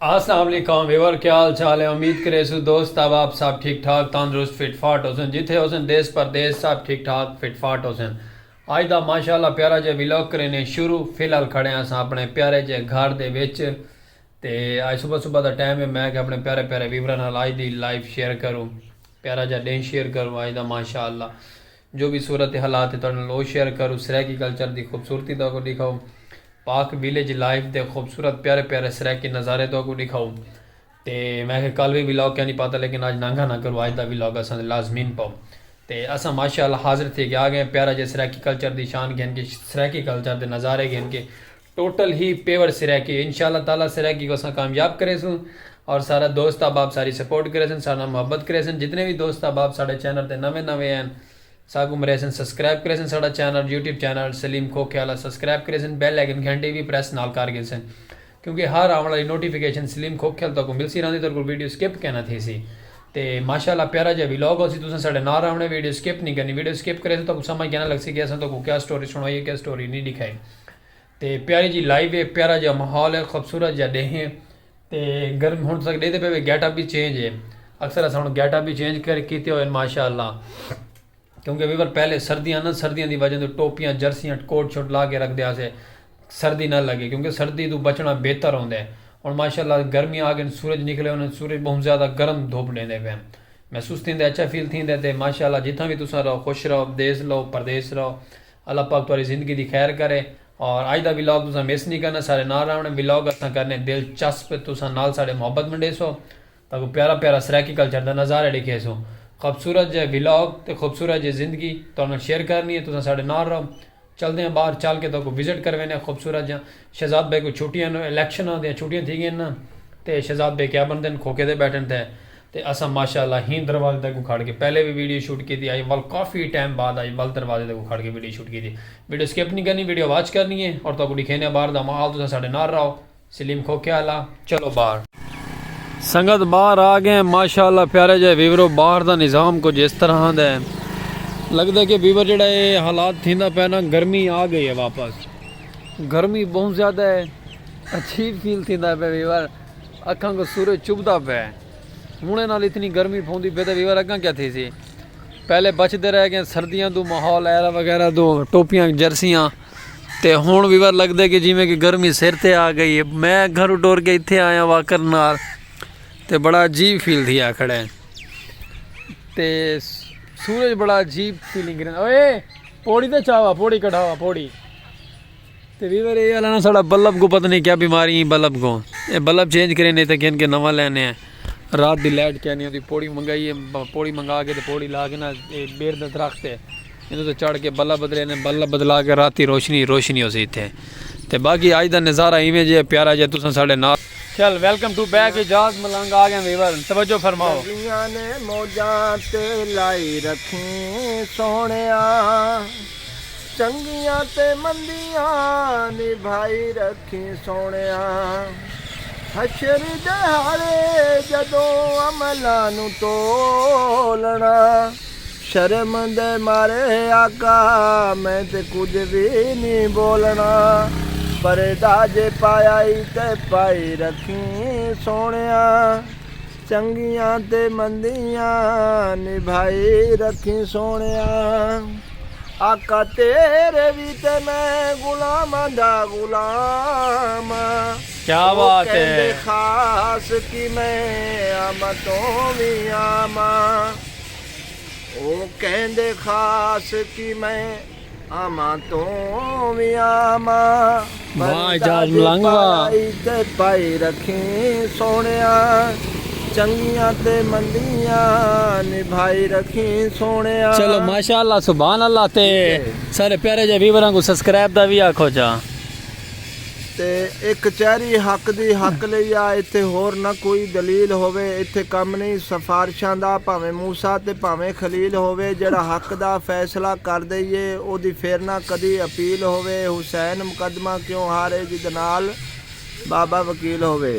اسلام علیکم ویور کیا حال چال ہے امید کریسوں دوست احباب سب ٹھیک ٹھاک تندرست فٹ فاٹ ہوسن جتھے ہوسن دیس پردیس سب ٹھیک ٹھاک فٹ فاٹ ہوسن اج دا ماشاءاللہ پیارا جے ویلاگ کرینے شروع فی الحال کھڑے ہاں اساں اپنے پیارے جے گھر دے وچ تے اج صبح صبح دا ٹائم ہے میں کہ اپنے پیارے پیارے ویوراں نال اج دی لائف شیئر کروں پیارا جا ڈینھ شیئر کروں اج دا ماشاءاللہ جو وی صورت حالات ہے تہاڈے نال او شیئر کروں سرائیکی کلچر دی خوبصورتی تہاکوں ڈکھاؤں پاک ویلیج لائف دے خوبصورت پیارے پیارے سرائیکی نظارے تہاکوں ڈکھاؤں تے میں آکھیا کل وی ولاگ کینی پاتا لیکن اج نانگھا نہ کروں اج دا ولاگ اساں دے لازمین پاؤں تے اساں ماشاءاللہ حاضر تھی کے آگئے پیارا جیہا سرائیکی کلچر دی شان گھن کے سرائیکی کلچر دے نظارے گھن کے ٹوٹل ہی پیور سرائیکی انشاء اللہ تعالی سرائیکی کو اساں کامیاب کریسوں اور سارا دوست احباب ساری سپورٹ کریسن سارے نال محبت کریسن جتنے وی دوست احباب ساڈے چینل تے نویں نویں ہن ساکوں مریسن سبسکرائب کریسن ساڈا چینل یوٹیوب چینل سلیم کھوکھے آلا سبسکرائب کریسن بیل آئیکن گھنٹی وی پریس نال کر گھنسن کیونکہ ہر آون آلی نوٹیفکیشن سلیم کھوکھے آل تہاکوں ملسی راہندی تہاکوں ویڈیو سکپ کینا تھیسی تے ماشاءاللہ پیارا جیہا ولاگ ہوسی تساں ساڈے نال راہونے ویڈیو سکپ نی کرنی ویڈیو سکپ کریسو تہاکوں سمجھ کینا لگسی کہ اساں تہاکوں کیا سٹوری سنائی ہے کیا سٹوری نی ڈکھائی تے پیاری جی لائیو ہے پیارا جا محول ہے خوبصورت جا ڈے ہیں تے گرم ہن تک ڈے دے پہ گیٹ اپ بھی چینج ہے اکثر اسا ہن گیٹ اپ بھی چینج کر کیتے ہوئے ماشاءاللہ کیونکہ ویور پہلے سردیاں نہ سردیاں دی وجہ تو ٹوپیاں جرسیاں کوٹ شوٹ لا کے رکھ دیا سے سردی نہ لگے کیونکہ سردی تو بچنا بہتر ہوندے ہیں اور ماشاءاللہ گرمیاں آ گئے سورج نکلے ہوئے سورج بہت زیادہ گرم دھوپ دیندے پہ محسوس تھیندے اچھا فیل تھیندے تے ماشاءاللہ جتھاں بھی تساں رہو خوش رہو دیس لو پردیس رہو اللہ پاک تہاڈی زندگی دی خیر کرے اور اج دا ولاگ تساں مس نی کرنا ساڈے نال رہونڑ ولاگ اساں کرنے دلچسپ تساں نال ساڈے محبت منڈیسو تاکو پیارا پیارا سرائیکی کلچر دا نظارہ ڈیکھیسو خوبصورت جے ولاگ تے خوبصورت جے زندگی تہاڈے نال شیئر کرنی ہے تساں ساڈے نال رہو چلدے آں باہر چل کے تہاکو وزٹ کروینے آں خوبصورت جیاں شہزاد بیگ کوں چھٹیاں نو الیکشناں دیاں چھٹیاں تھی گئن نا تے شہزاد بیگ کیا بندن کھوکے دے بیٹھن تے تے اساں ماشاء اللہ ہی دروازے دے اگوں کھڑ کے پہلے وی ویڈیو شوٹ کیتی اج ول کافی ٹائم بعد اج ول دروازے دے اگوں کھڑ کے ویڈیو شوٹ کیتی ویڈیو سکپ نی کرنی ویڈیو واچ کرنی ہے اور تہاکوں ڈکھینے باہر دا ماحول تساں ساڈے نال رہو سلیم کھوکے آلا چلو باہر۔ سنگت باہر آ گئیں ماشاء اللہ پیارے جئے ویورو باہر دا نظام کچھ اس طرح دا ہے لگدا کہ ویور جیڑا اے حالات تھیندا پئے نا گرمی آ گئی ہے واپس۔ گرمی بہوں زیادہ ہے عجیب فیل تھیندا پے ویور اکھاں کو سورج چبھدا پے ہن نال اتنی گرمی پوندی پے تے ویور اگاں کیا تھی سی پہلے بچ دے رہ گئے سردیاں دو ماحول ایرا وغیرہ دو ٹوپیاں جرسیاں تے ہن ویور لگ دے کہ جویں کہ گرمی سر تے آ گئی ہے میں گھر ڈور کے اتھے آیا واکر نال تے بڑا عجیب فیل تھی آ کھڑے تے سورج بڑا عجیب فیلنگ اوئے پوڑی تے چاوا پوڑی کڑھاوا پوڑی تے ویور اے الانا ساڑا بلب کو پتہ نہیں کیا بیماری ہیں بلب کو اے بلب چینج کرے نے تے کہن کے نوا لینے ہیں رات دی لائٹ کیا نہیں ہوتی پوڑی منگائی ہے پوڑی منگا کے تے پوڑی لا کے نا اے بیر دا درخت ہے انہوں تے چڑھ کے بلب بدلے نے بلب بدلا کے رات دی روشنی روشنی ہو سی تھے تے باقی آج دا نظارہ ایویں جے پیارا جے تساں ساڑے نال چل welcome to back Ijaz Malang آگے ویور توجہ فرماؤ دنیا نے موجاں تے لائی رکھیں سونے آ چنگیاں تے مندیاں نبھائی رکھیں سوہݨیا حشر ݙیہاڑے جݙوں عملاں نوں تولݨا شرم دے مارے آقا میں تے کجھ وی نی ٻولݨا پردہ جے پایا ای تے پائی رکھیں سوہݨیا۔ چنگیاں تے مندیاں نبھائی رکھیں سوہݨیا آقا تیرے وی تے میں غلاماں دا غلام ہاں او کیندے خاص کی میں آماں توں وی آماں او کیندے خاص کی میں آماں توں وی آماں بھاں اعجاز ملنگ وا پائی تے پائی رکھیں سوہنیا چنگیاں تے مندیاں نبھائی رکھیں سوہنیا چلو ماشاءاللہ سبحان اللہ تے سارے پیارے جے ویوراں کو سبسکرائب دا وی آکھو جا۔ تے اے کچہری حق دی حق لئی آ ایتھے ہور نہ کوئی دلیل ہووے ایتھے کم نئیں سفارشاں دا بھانویں موسی تے بھانویں خلیل ہووے جیڑھا حق دا فیصلہ کر دئیے اودی فیرنہ کدی اپیل ہووے حسین مقدمہ کیوں ہارے جیدنال بابا وکیل ہووے۔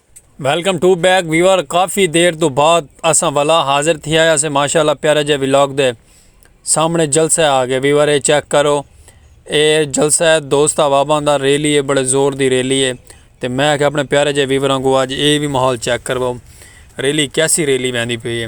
ویلکم ٹو بیک ویور کافی دیر تو بعد اساں والا حاضر تھی آیا سے ماشاءاللہ پیارا جے ویلاگ دے سامنے جلسہ آ گئے ویور اے چیک کرو اے جلسہ ہے دوست احباباں دا ریلی ہے بڑے زور دی ریلی ہے تے میں آکھیا اپنے پیارے جے ویوراں کو اج اے بھی ماحول چیک کرو ریلی کیسی ریلی ویندی پئی ہے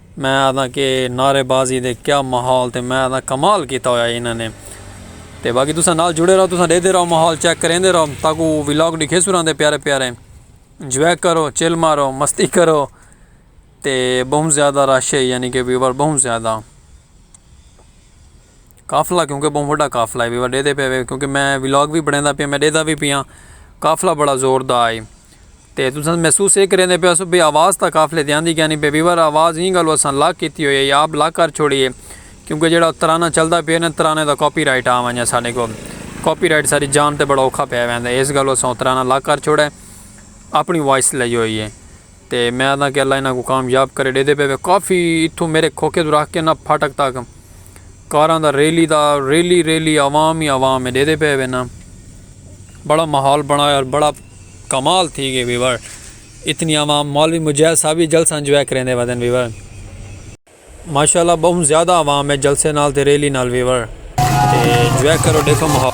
میں آہداں کہ نعرے بازی دے کیا ماحول تے میں آہداں کمال کیتا ہویا انہاں نے تے باقی تساں نال جڑے رہو تساں ڈیدھے رہو ماحول چیک کریندے رہو تاکو ولاگ ڈکھیسوں رہندے پیارے پیارے انجوائے کرو چل مارو مستی کرو تے بہوں زیادہ رش ہے یعنی کہ ویور بہوں زیادہ قافلہ کیونکہ بہوں وڈا قافلہ ہے ویوا ڈیدے پے وے کیونکہ میں ولاگ وی بنڑیندا پیا میں ڈیدا وی پیاں قافلہ بڑا زور دا ہے تے تساں محسوس اے کریندے پیو سو بے آواز تا قافلے دی آندی کینی پے ویوا آواز ایں گالو اساں لاک کیتی ہوئی ہے آپ لاک کر چھوڑی ہے کیونکہ جیڑا ترانہ چلدا پے نا ترانے دا کاپی رائٹ آ ونجے ساڈے کو کاپی رائٹ ساڈی جان تے بڑا اوکھا پے ویندا ہے اس گالو اساں ترانہ لاک کر چھوڑے اپنی وائس لئی ہوئی ہے۔ تے میں آہداں کہ اللہ انہاں کوں کامیاب کرے ڈیدے پئے وے کافی اتھوں میرے کھوکھے توں رکھ کے نا پھاٹک تک کاراں دا ریلی دا ریلی ریلی عوام ہی عوام ہے ڈیدے پئے وے نا بڑا ماحول بنایا اور بڑا کمال تھی گئے ویور اتنی عوام مولوی مجاہد صاحب ہی جلسہ انجوائے کریندے ودن ویور۔ ماشاءاللہ بہوں زیادہ عوام ہے جلسے نال تے ریلی نال ویور تے جوائے کرو ڈیکھو ماحول۔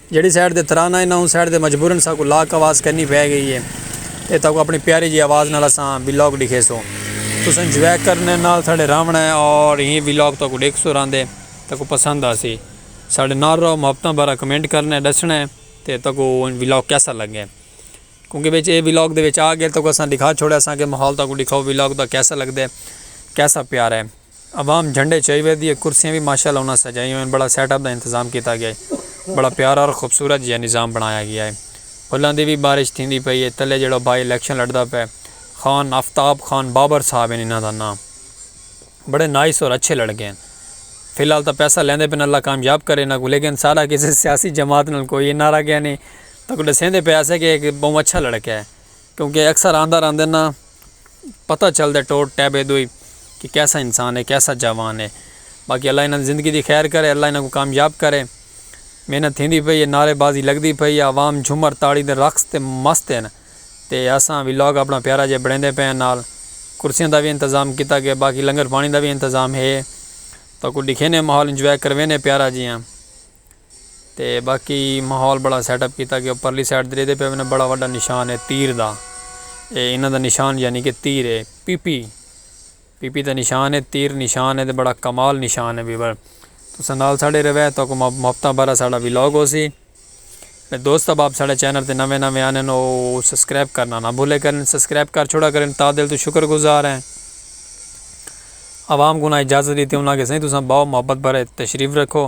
جیڑھی سائیڈ تے ترانہ انہاں اوں سائیڈ تے مجبورن ساکوں لاک آواز کرنی پئے گئی اے تے تاکوں اپنی پیاری جی آواز نال اساں ویلاگ ڈکھیسوں تساں انجوائے کرنے نال ساڈے راونڑاں اے اور ایں ویلاگ تاکوں ڈیکھسوں راندے تاکوں پسند آسی ساڈے نال رہو محبتاں بھرا کمنٹ کرنے ڈسنے تے تاکوں ویلاگ کیسا لگے کیونکہ وچ اے ویلاگ دے وچ آ گئے تاکوں اساں ڈکھا چھوڑے اساں کہ ماحول تاکوں ڈکھاؤ ویلاگ دا کیسا لگدے کیسا پیارا اے۔ عوام جھنڈے چائی ویدی اے کرسیاں وی ماشاء اللہ انہاں سجائی ہوئن بڑا سیٹ اپ دا انتظام کیتا گیا اے بڑا پیارا اور خوبصورت جیہا نظام بنڑایا گیا اے پھلاں دی وی بارش تھیندی پئی اے تلے جیہڑا بائی الیکشن لڑدا پئے خان آفتاب خان بابر صاحب ہن انہاں دا ناں بڑے نائس اور اچھے لڑکے ہن فی الحال تاں پیسہ لیندے پئن اللہ کامیاب کرے انہاں کوں لیکن ساڈا کسے سیاسی جماعت نال کوئی این آر آ گیا نیں تاں کوں ڈسیندے پئے اسے کہ اک بہوں اچھا لڑکا اے۔ کیونکہ اکثر آندہ راندے ناں پتہ چلدے ٹوٹ ٹیب ایدو ہی کہ کیسا انسان ہے کیسا جاوان ہے باقی اللہ انہاں دی زندگی دی خیر کرے اللہ انہاں کو کامیاب کرے محنت تھیندی پئی ہے نعرے بازی لگدی پئی ہے عوام جھمر تاڑی دے رقص تے مست ہیں تے اساں ولاگ اپنا پیارا جیہا بنڑیندے پئے ہیں نال کرسیاں دا وی انتظام کیتا گئے باقی لنگر پانی دا وی انتظام ہے تاکو ڈکھینے ماحول انجوائے کروینے پیارا جیہاں۔ تے باقی ماحول بڑا سیٹ اپ کیتا گیا پرلی سائیڈ تے ڈیدے پئے وینا بڑا وڈا نشان ہے تیر دا اے انہاں دا نشان یعنی کہ تیر ہے پیپی پیپی دا نشان ہے تیر نشان ہے تے بڑا کمال نشان ہے ویور تساں نال ساڈے روے تاکو محبتاں بھرا ساڈا ولاگ ہوسی تے دوست احباب ساڈے چینل تے نوے نوے آنے نو سبسکرائب کرنا نہ بھولے کرن سبسکرائب کر چھوڑا کرن تا دل تو شکر گزار ہیں عوام گناہ اجازت ڈیتے انہاں کے سائیں تساں باو محبت بھرے تشریف رکھو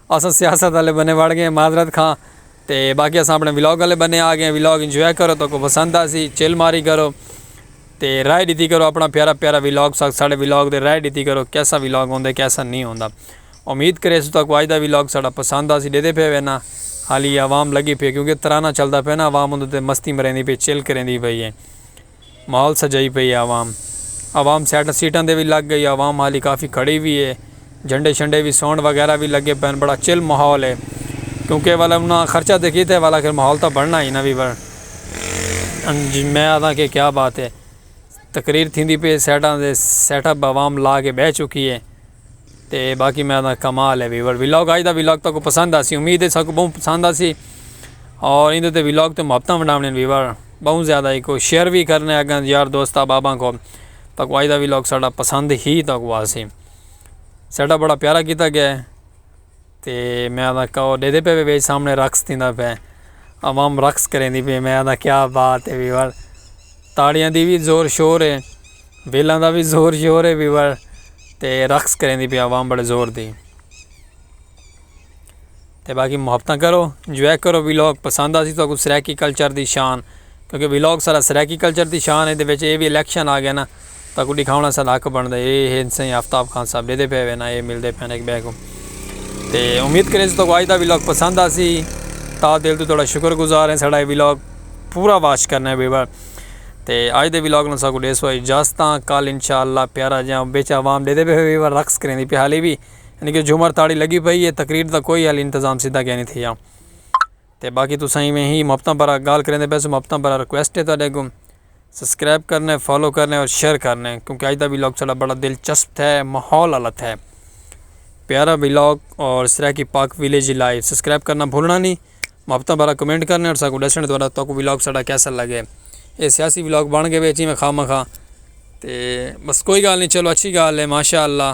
اساں سیاست آلے بنے وڑ گئے ہیں معذرت خواں تے باقی اساں اپنے ولاگ آلے بنے آ گئے ہیں ولاگ انجوائے کرو تہاکوں پسند آسی چل ماری کرو تے رائے ڈتی کرو اپنا پیارا پیارا ولاگ ساک ساڑے ولاگ دے رائے ڈتی کرو کیسا ولاگ ہوندے کیسا نہیں ہوندا امید کرے سو تہاکوں آج دا ولاگ ساڑا پسند آسی ڈیدے پے وے نا حالی عوام لگی پی کیونکہ ترانہ چلدا پے نا عوام اندر تے مستی مریندی پی چل کریندی پی ہے۔ مال سجائی پئی اے عوام۔ عوام سیٹاں سیٹاں دے وی لگ گئی اے عوام حالی کافی کھڑی وی اے جھنڈے شنڈے وی ساؤنڈ وغیرہ وی لگے پئن بڑا چل ماحول اے کیونکہ ول انہاں خرچہ تے کیتے ول آخر ماحول تاں بنڑنا ہی نا وی ول انج میں آدھاں کہ کیا بات اے تقریر تھیندی پئی اے سیٹاں دے سیٹ اپ عوام لا کے بہہ چکی اے تے باقی میں آدھاں کمال اے وی ول ولاگ آج دا ولاگ تاکوں پسند آسی امید اے ساکوں بہوں پسند آسی اور ایندے تے ولاگ تے محبتاں ونڈاونڑ وی ول۔ بہوں زیادہ ایکو شیئر وی کرنے اگاں یار دوست احباباں کو تاکو آج دا وی لاگ ساڈا پسند ہی تاکو آسی سیٹ اپ بڑا پیارا کیتا گئے تے میں آدھا کہو دے دے پے بیج سامنے رقص تھیندا پے عوام رقص کریندی پے میں آدھا کیا بات ہے ویور تاڑیاں دی وی زور شور ہے بیلاں دا وی زور شور ہے ویور تے رقص کریندی پے عوام بڑے زور دی. تے باقی محبتاں کرو انجوائے کرو ویلاگ پسند آسی تو سرائیکی کلچر دی شان کیونکہ ویلاگ سارا سرائیکی کلچر دی شان ہے دے وچ اے وی الیکشن آ گیا نا تو کوئی دکھاونا سارا حق بن دے اے ہے انسان آفتاب خان صاحب دے پے وینا اے مل دے پے ایک بے کو تے امید کریں تو آج دا ویلاگ پسند آسی تا دل تو تھوڑا شکر گزار ہیں ساڑھا ویلاگ پورا واچ کرنا ہے ویور تے آج دے ویلاگ نو ساکو دے سو اجازتاں کال انشاءاللہ پیارا جاں بیچ عوام دے دے پے ویور رقص کریں دی پہالی بھی یعنی کہ جھومر تاڑی لگی پئی ہے تقریر دا کوئی حالی انتظام سیدھا کینی تھیا تے باقی تساں ایویں ہی محبتاں بھرا گال کریندے پئے سو محبتاں بھرا ریکویسٹ ہے تہاڈے اگوں سبسکرائب کرنے فالو کرنے اور شیئر کرنے کیونکہ اج دا ولاگ ساڈا بڑا دلچسپ تھے ماحول والا تھے پیارا ولاگ اور Saraiki Pak village live subscribe کرنا بھولنا نہیں محبتاں بھرا کمنٹ کرنے اور ساکو ڈسنے تہاڈا تاکو ولاگ ساڈا کیسا لگے اے سیاسی ولاگ بن گئے وے جی میں خواہ مخواہ تے بس کوئی گال نہیں چلو اچھی گال ہے ماشاء اللہ